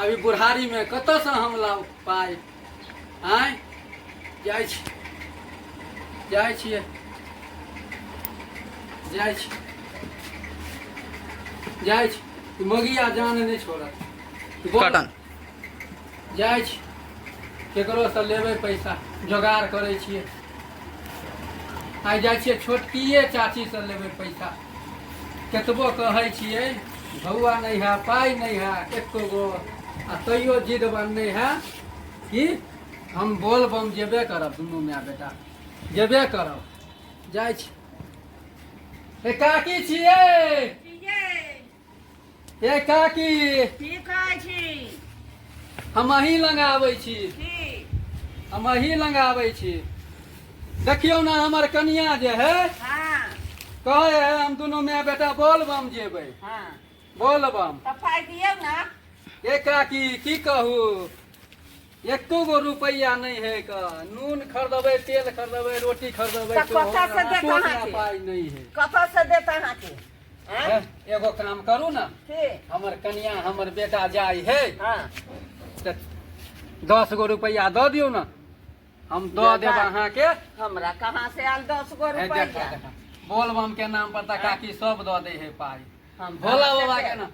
अभी बुढ़ारी में कत से हम लाउ पाई आय जाय छी जाय छियै जाय छी जाय छी ई मगिया जान नहि छोड़त बोल। कटन जाइ छी केकरो से लेबै पैसा जोगाड़ करै छियै आइ जाइ छियै छोटकिए चाची से लेबै पैसा केतबो कहै छियै भौआ नहि है पाइ नहि है एको गो आ तैयो जिद बनने है कि हम बोल बम जेबे करब दुनू माय बेटा जेबे करब जाइ छी ए काकी छियै हे काकी की कहै छी हम अही लग आबै छी की हम अही लग आबै छी देखियौ ने हमर कनिया जे है हाँ कहे है हम दुनू माय बेटा बोलबम जेबै हाँ बोलबम तो पाई दियो ना हे काकी की कहू एको गो रुपैआ नहि है का नून खरीदबै तेल खरीदबै रोटी खरीदबै तऽ कतऽ से देत अहाँके? पाइ नहि है कतऽ से देत अहाँके आँय? हैं? एगो काम करू ने की? हमर कनिया हमर बेटा जाइ है हँ तऽ दस गो रुपैआ दऽ दियौ ने हम दऽ देब बेटा। अहाँके हमरा कहाँ से आयल दस गो है, देखा, रुपैआ देखा। बोलबम के नाम पर तऽ काकी सब दऽ दे है पाइ हम भोला कहाँ से बाबा के देब? ना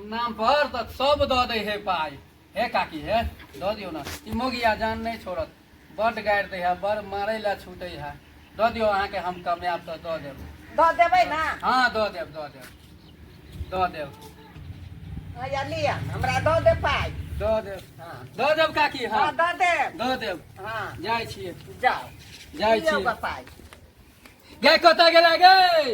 नाम पर तऽ सब दऽ दै हे पाइ हे काकी हे दऽ दियौ ने ई मोगिया जान नहि छोड़त बड्ड गारि दै है बड़ मारै लए छूटै है दऽ दियौ अहाँके हम कमायब तऽ दऽ देब दऽ देबै ने हँ दऽ देब दऽ देब दऽ देब हैया लिअ हमरा दऽ दे पाइ दऽ देब हँ दऽ देब काकी हँ हँ दऽ देब दऽ देब हँ जाइ छियै जाउ जाइ लिअ छियै। गऽ पाइ गै कतऽ गेला गै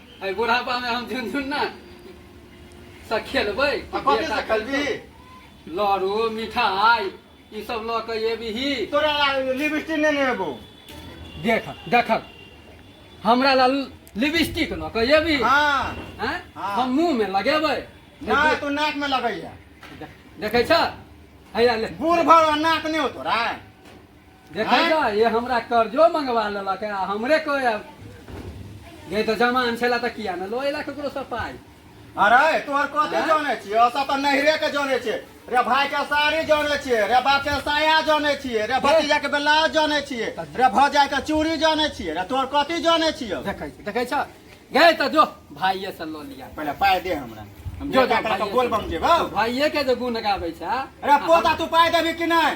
एहि बुढ़ापामे हम झुनझुन ना सँ खेलबै आ कथी से खेलबी लड़ू मिठाई ई सब लऽ कऽ एबही तोरा ला लिपस्टिक नहि ने एबो देख देखक हमरा ला लिपस्टिक लऽ कऽ एबही हाँ हैं? हाँ। हम मुंह में लगेबै ना तू नाक में लगैया देख- देखै छ हैया ले बूढ़ भर नाक नहीं हो तोरा देखै छऽ ये हमरा कर्जो मंगवा लेलक आ हमरे कोइ अब ये तो जमान छेला तऽ किया ने लोएला ककरो सँ पाइ अरे तोहर कथी आँय? जाने छियै ओसभ तऽ नैहरे के जाने छियै रे भाय के साड़ी जाने छियै रे बाप के साया जाने छियै रे भतीजा के ब्लाउज जाने छियै रे भौजा के चूड़ी जाने छियै रे तोहर कथी जाने छियै देखै छी देखै छऽ गए तऽ जो भाइये से लऽ लिया पहिले पाय दे हमरा हम जो जो बेटा करा के भाइये बोल से। बम जेबौ भाइये के जे गुण गाबै छै रे पोता तू पाय देबी कि नहि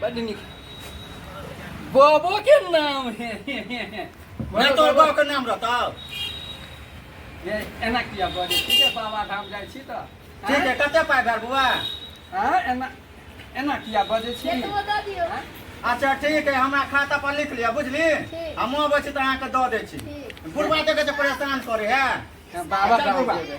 बड नीक बाबो के नाम है नहि तोहर बाप के नाम रहतौ ये एना किया बजे ठीक है बाबा धाम जाय छी त ठीक है कते पाइ भेल बौआ हां एना एना किया बजे छी एतबो दऽ दियौ हाँ? अच्छा ठीक है हमरा खाता पर लिख लिअ बुझली ठीक। हम अबै छी तऽ अहाँके दऽ दै छी ठीक। बुढ़बा देखै छै परेशान करे है बाबा चल धाम बौआ। जेबै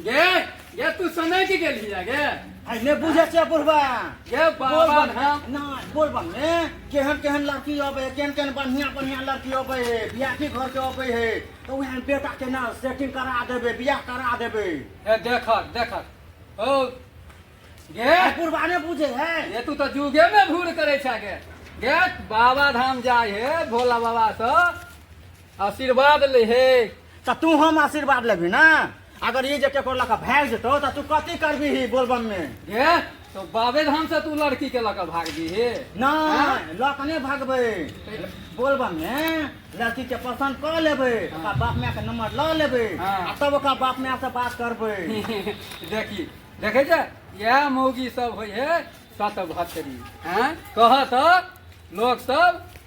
गे गे तू समय की गेल हिया गे आइ ने बुझै छै बुढ़बा गे बाबा ना नहि बोल बने केहन केहन लड़की अबै है केहन केहन बढ़िया बढ़िया लड़की अबै है बियाह की घर के अबै है तो वहाँ बेटा के ना सेटिंग करा देबे बियाह करा देबे ए देख देख ओ गे आइ बुढ़बा ने बुझे है ये तू तो जुगे में भूर करे छा गे गे बाबा धाम जाय हे भोला बाबा से आशीर्वाद ले हे तऽ तू हम आशीर्वाद लेबी ना अगर ई जे केकरो लऽ कऽ भाग जेतौ तऽ तू कथी करबी ही बोलबम में हे तो बाबे धाम से तू लड़की के लगा भाग दी हे नहीं लऽ कऽ नहि भागबै बोलबम में लड़की के पसंद कऽ लेबै ओकरा बाप माय के नंबर लऽ लेबै हाँ। आ तब ओकरा बाप माय से बात करबै देखी देखे छै यह मौगी सब होइ हे सत भतरी हैं कह तो लोग सब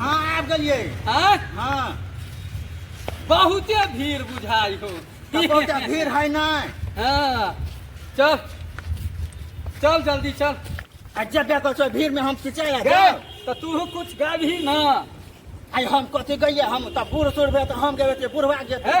हाँ आबि गेलियै आँय? हाँ बहुते भीड़ बुझाइ हो तऽ बहुते भीड़ है नहि हाँ चल चल जल्दी चल आ जेबे करै छौ भीड़मे हम की चलि गे जायब तऽ तू कुछ गाबही ना आइ हम कथी गइयै हम तऽ बूढ़ सूढ़ भेल तऽ हम गेबै तऽ बूढ़वा जेतै हे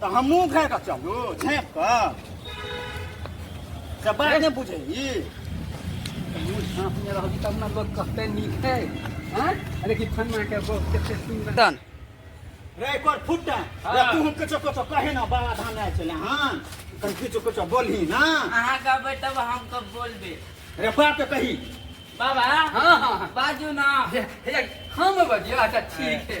तऽ हमहूँ खा कऽ चलू छेप कऽ से बात नहि बुझै ई मुँह झाँपने रहबी तब ने लोक कहतै नीक है आँय? अरे कि फन्ना के बहुत कते सुन्दर तन रे कोर फुट्टा हाँ। रे तू हम किछो किछो कहे ना बाबा धाम आयल छलै हन तन किछो किछो बोलही ना अहाँ कहबै तब हम कब बोलबै रे बात तऽ कही बाबा हाँ हाँ हाँ बाजू ना हे- हे, हम बजियो अच्छा ठीक है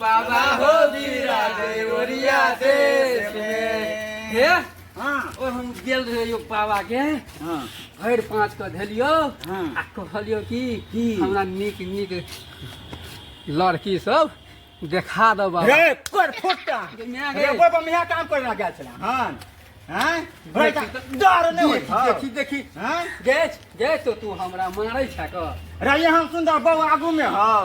बाबा हो बीरा दे ओरिया दे हे हाँ ओ हम गेल रहे यो बाबा के हाँ भरि पाँच के धेलियो हाँ। आ कहलियो कि की? हमरा नीक नीक लड़की सब देखा दो बाबा रे कर फुटा मिया रे गए। बाबा मिया काम कर रहा गया चला हाँ हाँ भाई का डर नहीं होई था देखी देखी हाँ गैच गैच तो तू हमरा मारै छा क रे ये हम सुंदर बाबू आगू में हाँ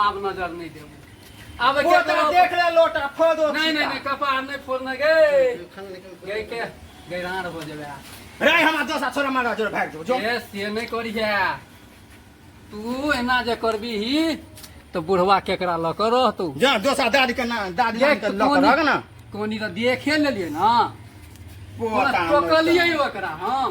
आब नजर नहीं देबू आब के लोटा देबू? देख ले लोटा फोड़ दो नहीं नहीं नहीं कपार नहीं फोड़ने गए गए के गैरान हो जाबे रे हमरा दोसा छोरा मारा जोर भाग जो जो ए से नहीं करिहे तू एना जे करबी ही तो बुढ़वा केकरा ल कर रहतू जा दोसा दादी के ना दादी देख के लक रग ना कोनी तो देखे लेलिए ना पोता टोकलिए ओकरा हम